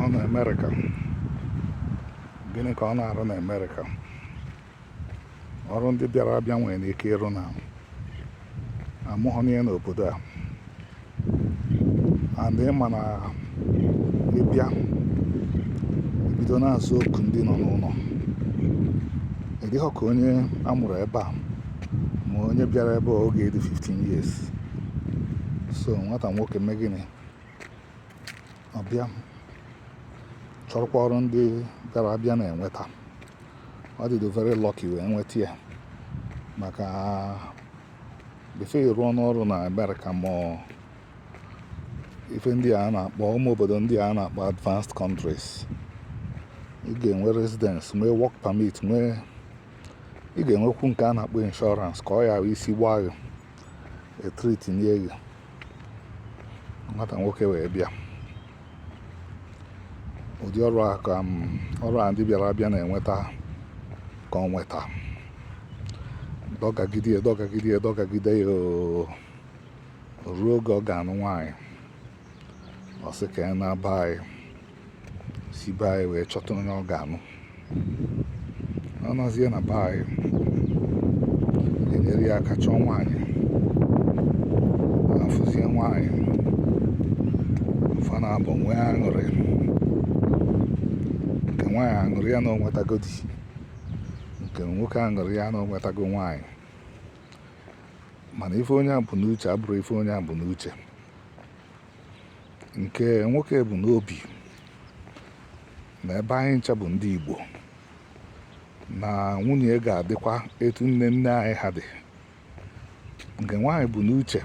ọ na Amerịka gịnị ka ọ na-arụ na Amerịka ọrụ ndị bịara abịa nwere ike ịrụ na a mụghị ya n'obodo a and ị ma na ị bịa ebido na-aza oku ndị nọ n'ụlọ ị dịghọ ka onye a mụrụ ebe a ma onye bịara ebe a oge ọ dị 15 years so nwata nwoke mee gịnị ọ bịa chọrọkwa ọrụ ndị bịara abịa na-enweta ọ dịdo very lucky wee nweta ya maka before ị rụọ n'ọrụ na Amerịka ma ife ndị a na-akpọ ụmụ obodo ndị a na-akpọ advanced countries ị ga-enwe residence nwee work permit nwee ị ga-enwekwu nke a na-akpọ insurance ka ọ ya isi gbaa gị e treat nye gị nwata nwoke wee bịa ụdị ọrụ a ndị bịara abịa na-enweta ka o nweta dọgagide ya dọgagide ya dọgagide ya ruo oge ọ ga-anụ nwaanyị ọ sị ka ya naa be anyị si be anyị wee chọta onye ọ ga-anụ ọ nọzie na be anyị e nyere ya aka chọọ nwaanyị a fụzie nwaanyị fa naabọ nwee aṅụrị nke nwaanyị aṅụrị ya na o nwetago di nke nwoke aṅụrị ya na o nwetago nwaanyị mana ife onye a bu n'uche abụrọ ife onye a bu n'uche nke nwoke bu n'obi na ebe anyị ncha bụ ndị Igbo na nwunye ga-adịkwa etu nne nne anyị ha dị nke nwaanyị bu n'uche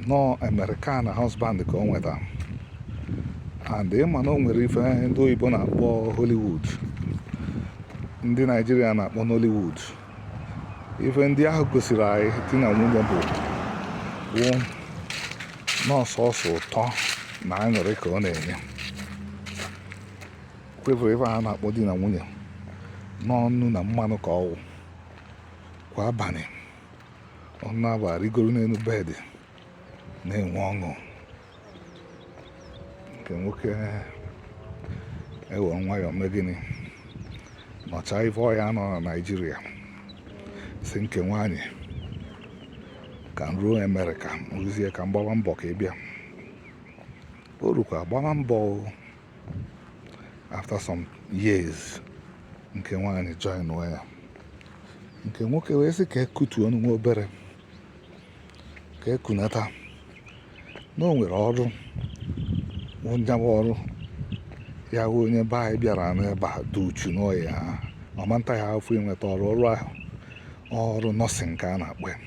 na ọ American husband ka o nweta and ị ma na o nwere ife ndị oyibo na-akpọ Hollywood ndị Naijiria na-akpọ Nollywood ife ndị ahụ gosiri anyị di na nwunye bụ wụ na ọ sọọsọ ụtọ na aṅụrị ka ọ na-enye kwevụrụ ife ahụ a na-akpọ di na nwunye na ọ nnu na mmanụ ka ọ wụ kwa abalị ọ na-abụ a rigoro n'elu bed na-enwe ọṅụ nke nwoke ewere nwayọọ mee gịnị nọchaa ife ọ ya-anọ na naijiria sị nke nwaanyị ka m ruo amerịka rụzie ka m gbaba mbọ ka ị bịa o rukwa gbaba mbọ after some years nke nwaanyị join ya nke nwoke wee sị ka e kutuonụ nwa obere ka e kunata na o nwere ọrụ nya wụ ọrụ ya wụ onye be anyị bịara n'ebe a dị uchu n'ọ yaha ama nta ya afụ inweta ọrụ ọrụ ahụ ọrụ nọọsịn ka a na-akpọ ya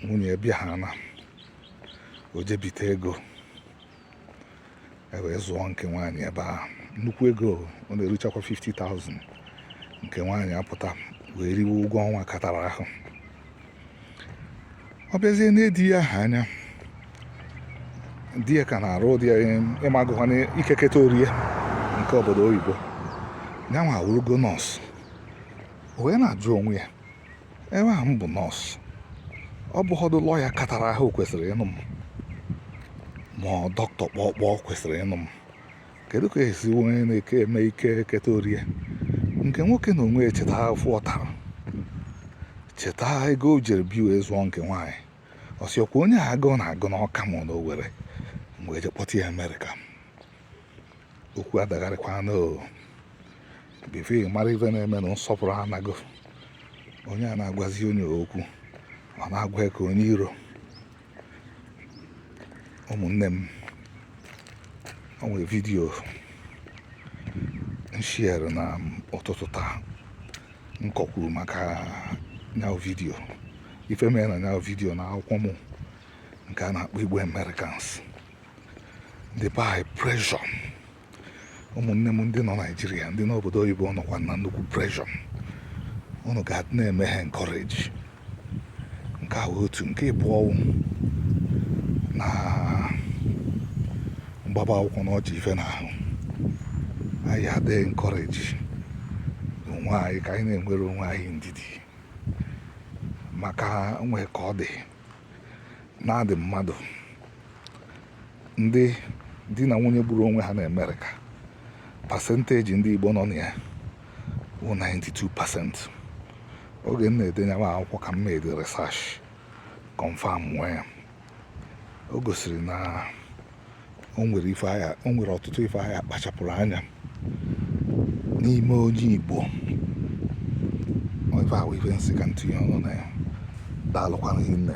nwunye bịa ha na o je bite ego e wee zụọ nke nwaanyị ebe ahụ nnukwu ego ọ na-eruchakwa 50,000 nke nwaanyị apụta wee riwe ụgwọ ọnwa katara ahụ ọ bịazie nee di ya ahụ anya di ya ka na-arụ ụdị ị magokwa na ike keta orie nke obodo oyibo ya nwa awụrụgo nọọsụ o wee na-ajụ onwe ya ebe a m bụ nọọsụ ọ bụghọdụ lọya katara ahụ kwesịrị ịnụ m ma ọ dọkịta kpọkpọ kwesịrị ịnụ m kedu ka e si onye na-eke eme ike keta orie nke nwoke n'onwe echeta afụfụ ọ tara cheta ego o jere bi wee zụọ nke nwaanyị ọ sị ọ kwa onye a agụụ na-agụ n'ọka ma na owere m wee je kpọta ya amerịka okwu adagharịkwa n'o bifo ị mara ife na-eme na nsọpụrụ anago onye a na-agwazi onye okwu ọ na-agwa ya ka onye iro ụmụnne m o nwere vidiyo m shiere n'ụtụtụ taa m kọkwuru maka nya wụ vidiyo ife mere na nya wụ vidiyo na akwụkwọ m nke a na-akpọ igbo americans death by pressure ụmụnne m ndị nọ naijiria ndị nọ obodo oyibo nọkwa na nnukwu pressure unu ga na-eme ha encourage nke a otu nke ịbụọ na mgbaba akwụkwọ na o ji ife n'ahụ anyị adị encourage onwe anyị ka anyị na-enwere onwe anyị ndidi maka nwee ka ọ dị na-adị mmadụ ndị di na nwunye gburu onwe ha na Amerịka pasenteji ndị Igbo nọ na ya bụ 92 pasent oge m na-ede nya wụ akwụkwọ ka m mere research confirmụọ ya o gosiri na o nwere ife a ga o nwere ọtụtụ ife a ga-akpachapụrụ anya n'ime onye Igbo ife a wụ ife m sị ka m tinye ọnụ na ya daalụkwanụ hinne